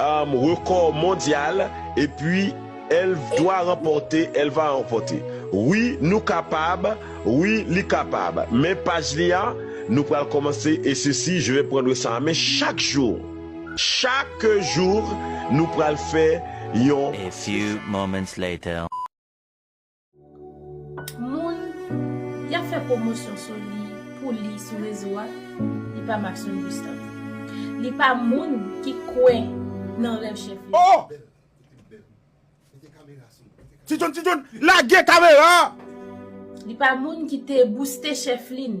Rekò mondyal epi elvdwa ranpòte elva ranpòte wi nou kapab wi li kapab men paj li a nou pral kòmanse e sesi je vè prendre sa an men chak jou chak jour nou pral fè yon. Moun yap fè pwomosyon sou li pou li sou rezo a li pa Maxon Gustave li pa moun ki kwè nan rèv chèf li Oh! Ti John ti John lage kamera a! Li pa moun ki te bouste chèf li n.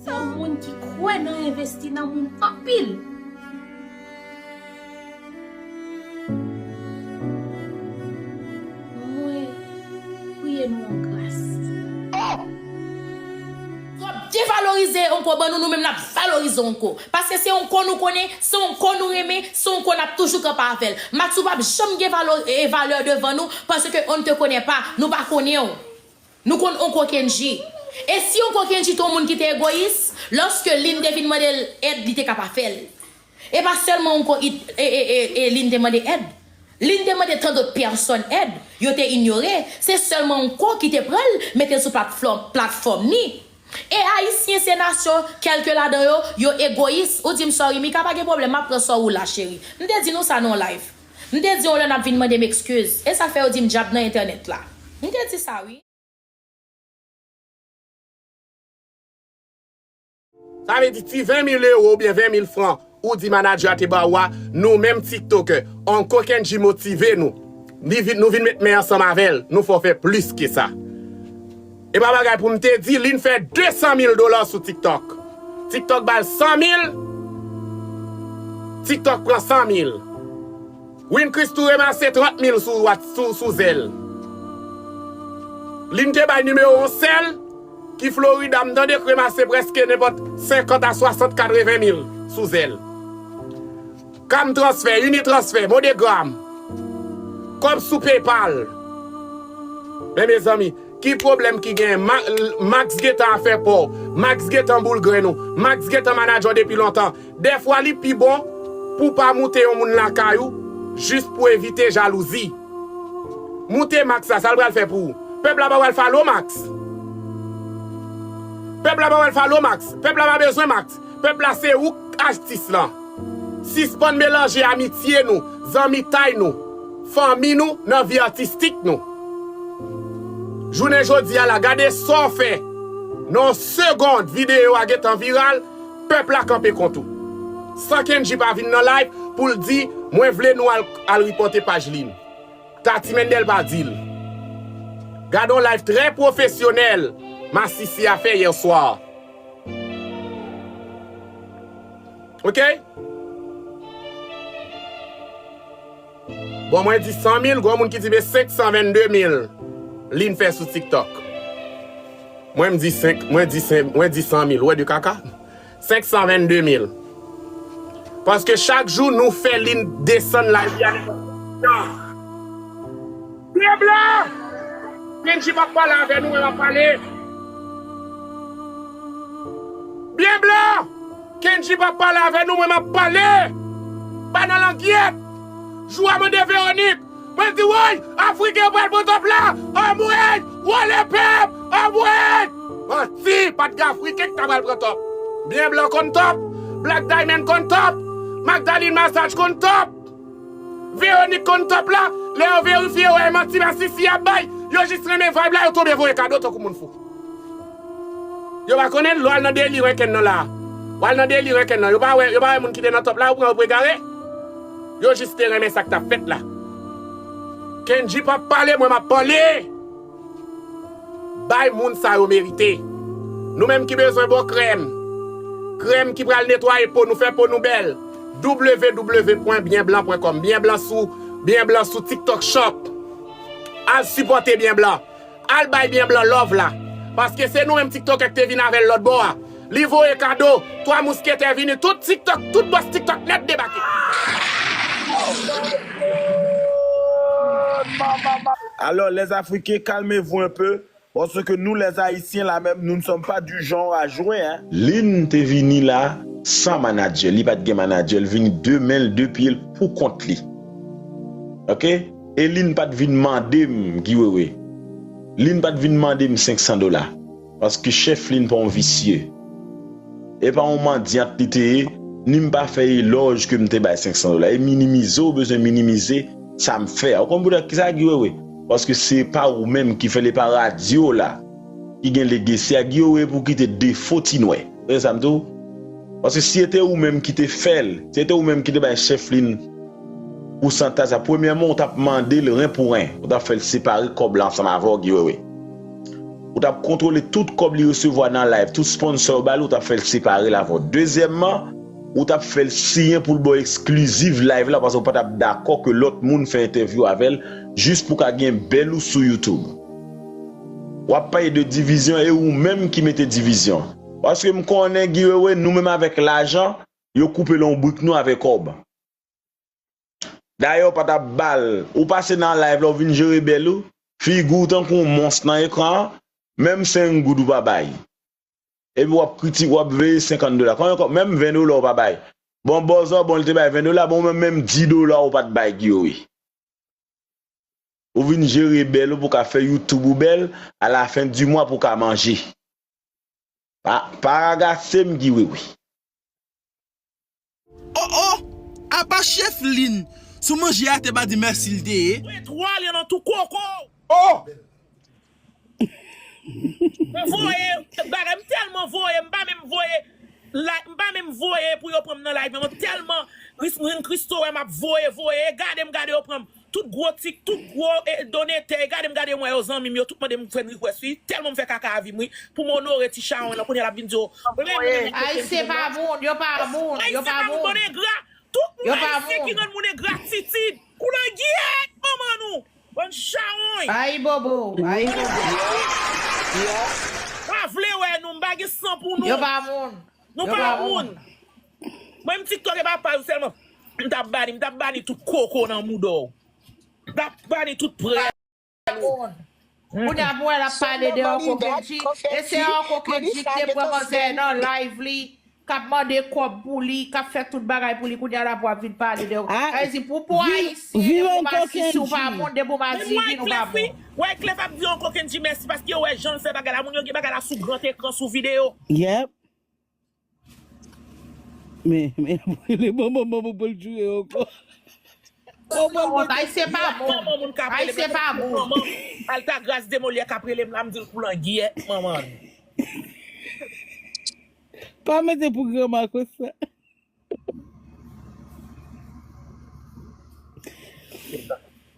Se yon moun ki kwè nan envesti nan moun anpil. Mwen priye nou an gras. Oh! Yo ap devalorize Onko ban nou, nou menm n ap valorize Onko. Paske se Onko nou konnen, se Onko nou renmen, se Onko n ap toujou kanpe avè l. Matyou p ap janm gen valo e valè devan nou, paske on n te konnen pa, nou pa konnen w. Nou konn Onko Kendji. E si Onko Kendji te yon moun ki te egoyis, lòske Lynn te vin mande l èd li te ka pa fè l. E pa sèlman Onko e Lynn te mande èd. Lynn te mande tan dot pèsòn èd, yo te inyore, se sèlman Onko ki te pran l mete l sou platfòm ni. E Ayisyen se nasyon, kèlke ladan yo, yo egoyis. Ou di m sorry Mika pa gen pwoblèm m ap pran sò ou la cheri. M te di nou sa nan yon live. M te di yon lè nap vin mande m ekskiz. E sa k fè yo di m djab nan entènèt la. M te di sa wi. Sa vle di ti 20 mil euro oubyen 20 mil fran ou di manager a te ba ou a, nou menm tiktokè, Uncle Kendji motive nou. Nou vin met men ansanm avè l, nou fè w fè plis ke sa. Epa bagay poum te di Lynn fè 200 mil dola sou tiktok Tiktok bal 100 mil Tiktok pran 100 mil Win Chris tou remase 30 mil sou zel Lynn te bay nimewo yon sèl ki Florida m tande k remase preske nenpòt 50 a 60 80 mil sou zel. Cam transfè, unitransfè, modegram, kòb sou paypal. Men mezanmi, ki pwoblèm ki genyen? Max gentan afè pa w, Max gentan boul grenn ou, Max gentan manager w depi lontan. Dèfwa li pi bon pou w pa moute yon moun lakay ou jis pou evite jalouzi. Moute Max la, sa l pral fè pou ou? Pèp la pa pral follow Max. Pèp la pa pral follow Max. Pèp la pa bezwen Max. Pèp la se ouk k ajtis lan. Sispann melanje amitye nou, zanmitay nou, fanmi nou nan vi atistik nou. Jounen jodi a la gade sa w fè nan yon segond videyo a gentan viral, pèp la kanpe kont ou. San Kendji pa vin nan live pou l di mwen vle nou al ripòte paj li. Tati Mendel pa di l. Gade yon live trè pwofesyonèl Masisi a fè yè swa. Ok Bon mwen di 100 mil Gon moun ki di me 522 mil Li n fè sou tiktok Mwen m di 5 Mwen di 5 Mwen di 100 mil Ou wè de kaka 522 mil Paske chak jou nou fè li n desann la Li ale Nan Pèp la! Bndye pap pale avè nou men lap pale. Bnb la! Kendji pap pale avè nou men map pale. Banan langyèt! Jou a mande Véronique. Mwen di woy! Afriken yo pral pran top la! Anmweyy! Wole pèp! Anmweyy! Manti! Pat gen Afriken ki ta pral pran top. Bnb la konn top. Black Diamond konn top. Magdalene Massage konn top. Véronique konn top la, lè yo verifye yo wè e manti masisi yap bay, yo jis renmen vibe la yo tonbe voye kado tankou moun fou. Yo pa konnen lè wal nan deli renkenn nan la, wal nan deli renkenn nan, yo pa wè, yo pa wè moun ki te nan top la yo pran yo pou egare, yo jis te renmen sak tap fèt la. Kendji pap pale mwen map pale! Bay moun sa yo merite. Nou menm ki bezwen bon krèm. Krèm ki pral netwaye po nou, fè po nou bèl. www.byenblan.com Byen blan sou Byen blan sou tiktok shop Al sipòte byen blan Al bay byen blan love la Paske se nou menm tiktokè ki te vin avèl lòtbò a Li voye kado, 3 mousketè vini tout tiktok, tout bòs tiktok nèt debake. Alors les africains calmez vous un peu parce que nous les haïtiens là même nous ne sommes pas du genre à jouer hein. Lynn te vini la san manager li pat gen manager li vini de men l de pye l pou kont li ok e Lynn pat vin mande m Guy Wewe Lynn pat vin mande m 500 dola. Paske Cheflin pa yon visye. E pa yon mandiant li te ye, ni m pa fè elòj ke m te bay 500 dola. E minimize ou bezwen minimize sa m fè a. Ou konn poutèt ki sa, Guy Wewe? Paske se pa ou menm ki fè l, e pa radyo la ki gen legesi a. Guy Wewe, pou kite defo ti nwè. Tande sa m di w. Paske si e te ou menm ki te fè l, si e te ou menm ki te bay Cheflin pousantaj sa, premyèman ou t ap mande l ren pou ren. Ou t ap fè l separe kòb la ansanm avè w, Guy Wewe. Ou tap kontrole tout kòb li resevwa nan live, tout sponsor yo bali ou tap fèl separel avèw. Dezyèmman, ou tap fèl siyen poul baw exclusive live la paske ou patap dakò ke lòt moun fè entèvyou avèl jis pou ka gen bèl ou sou YouTube. Wap pale de divizyon e ou menm ki mete divizyon. Paske m konnen Guy Wewe nou menm avèk lajan yo koupe lonbrik nou avè kòb. Dayè ou pa ta bal, ou pase nan live la ou vin jere bèl ou, figi w tankou yon mons nan ekran an, menm 5 goud ou pa bay. Epi wap kritike, wap veye 50 dola. Konbyen kòb, menm 20 dola ou pa bay. Bon bòzò, bon li te bay 20 dola, bon ou menm menm 10 dola ou pat bay Giori. Ou vin jere bèl ou pou ka fè youtube ou bèl, a la fen di mwa pou ka manje. Pa pa ragasem Giwewe. Oh oh! Apa chef Lynn sou manje a te pa di merci li te ye? Mwen twal yo nan tou koko w. Oh! M voye bagay m telman voye m pa menm voye like m pa menm voye pou yo pranm nan like nan mwen telman ris m rin Christo wè map voye voye e gade m gade yo pranm. Tout gro tik tout gro donetè gade m gade m wè yo zanmi m yo tout mande m friend request wi telman m fè kaka avim wi pou m onore ti chawony lan kounya lap vin di yo renmen renmen yo kenn Ayisyen pa moun yo pa moun yo pa moun tout moun ayisyen ki rann moun engratitid koulangyèèt manman nou bann chawony Ayibobo ayibobo yo pa vle wè nou m pa gen san pou nou yo pa moun yo pa moun. Mwen m tiktok e pa paz selman m tap bani m tap bani tout koko nan mouda w m tap bani tout prèv ou Kounye a m wè lap pale de Orko Kendji e se Orko Kendji ki te pran manzè nan live li kap mande kob pou li kap fè tout bagay pou li kounye a la pou wap vin pale de sa vle di pou pou ayisyen depi w pa si si w pa moun depi w pa divin ou pa moun. Wyclef ap di Orko Kendji mèsi paske yo wè janl fè bagay la moun yo gen bagay la sou gran ekran sou video. Men, men yap rele manman manman pou l joure ankò. Ou pral wont ayisyen pa bon ayisyen pa bon. Altagrace de Molière kap relem la m dil koulangyèt manman l. Pa mete pou gran Marcos sa.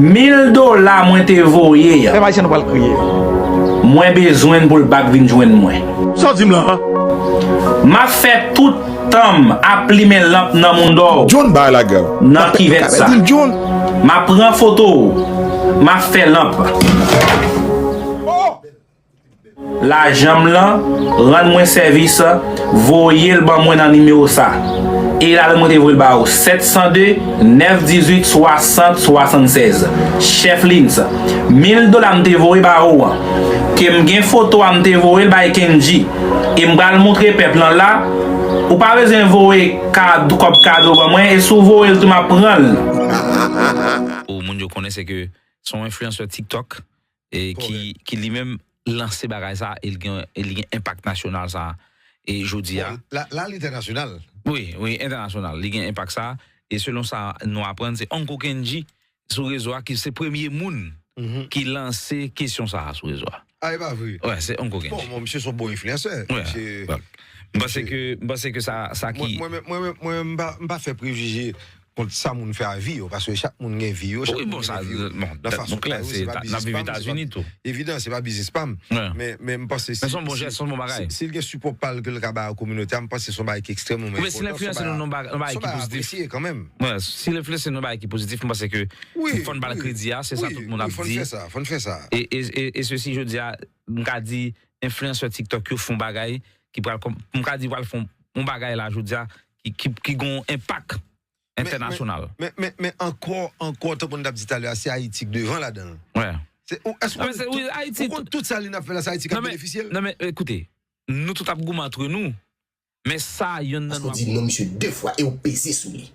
Mil dola mwen te voye an. Pèp ayisyen nou pral kriye. Mwen bezwenn pou l bak vin jwenn mwen. Sa w di m lan an? M ap fè tout tan m ap plimen lanp nan mondo w. John bay lagè w. Nan kivèt sa. M ap pran foto w. M ap fè lanp. Lajanm lan rann mwen sèvis voyel ban mwen nan nimewo sa e la mwen te voyel ba ou 702 918 60 76 cheflins mil dola m te voye ba ou an kem gen foto a m te voyel bay kendji e m pral moutre pèp lan la ou pa bezwen voye kòb kado ban mwen e si w voyel tou map pranl. Pou moun yo konnen se ke son enfliyansè tiktok ki li menm lanse bagay sa e li gen enpak nasyonal sa e jodi a. La al entènasyonal. Wi, wi entènasyonal li gen enpak sa e selon sa nou aprann se Uncle Kendji sou rezo a ki se premye moun ki lanse kesyon sa sou rezo a. A e pa vre? Wi, se Uncle Kendji. Bon, bon misye son bon enfliyansè. Wi, m panse ke sa ki. Mwen menm m pa fè prejije kont sa moun fè a vi yo paske chak moun gen vi yo chak moun gen vi yo nan fason pa yo se pa biznis pa m se pa evidan se pa biznis pa m men m panse si si l gen sipò pa l ke l ka bay a kominote a m panse se yon bagay ki ekstrèmeman enpòtan se yon bagay a apresye kanmenm si l enfliyanse nou nan bagay ki pozitif m panse ke fò n ba l kredi a se sa tout moun ap di wi fò n fè sa e se si jodi a m ka di enfliyansè tiktok yo fon bagay ki pral m ka di yo pral fon yon bagay la jodi a ki gon enpak entènasyonal. Men ankò, ankò, tankou nou t ap di talè a, se Ayiti k devan ladan l. Ou konn tout sa li n ap fè la, se Ayiti k ap benefisye l. Non men, ekoute, nou tout ap goumen antre nou, men sa yonn nan nou ap. Paske w di non misye de fwa e w peze sou li.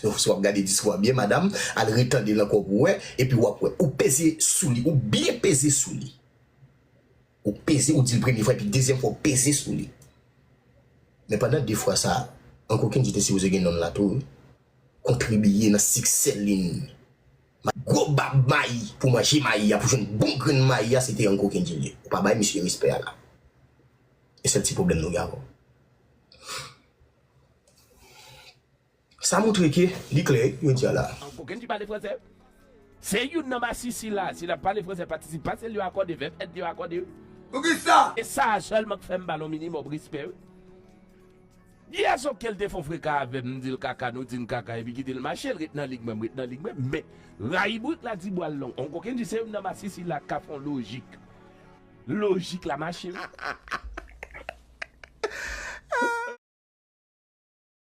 Yon fwa w ap gade diskou a byen madam, al retande l ankò pou w wè, epi w ap wè. Ou peze sou li, ou byen peze sou li. Ou peze ou dil premye fwa epi dezyèm fwa ou peze sou li. Men pandan 2 fwa sa, Uncle Kendy te sipoze gen nonm la tou wi. Kontribiye nan siksè Lynn. Gwo bab mayi pou manje mayi a pou jwenn bon grenn mayi a se te Uncle Kendy li ye. Ou pa bay misye respè a la. E sèl ti pwoblèm nou gen avè w. Sa moutre ke li klè yo di a la. An koken ki pale franse. Se youn nan masisi la. Si nap pale franse patisip pase l yo akòde, vèb èt yo akòde wi. Poukisa? E sa a sèlman k fè m ba l on minimòm respè wi. Yès ok l te fon freka avè m, m di l kaka, nou di n kaka epi kite l mache l ret nan lig mwen, m ret nan lig mwen. Men, rayibrik la di bwa l long. On koken di se youn nan masisi la k ka fon lojik. Lojik la mache wi.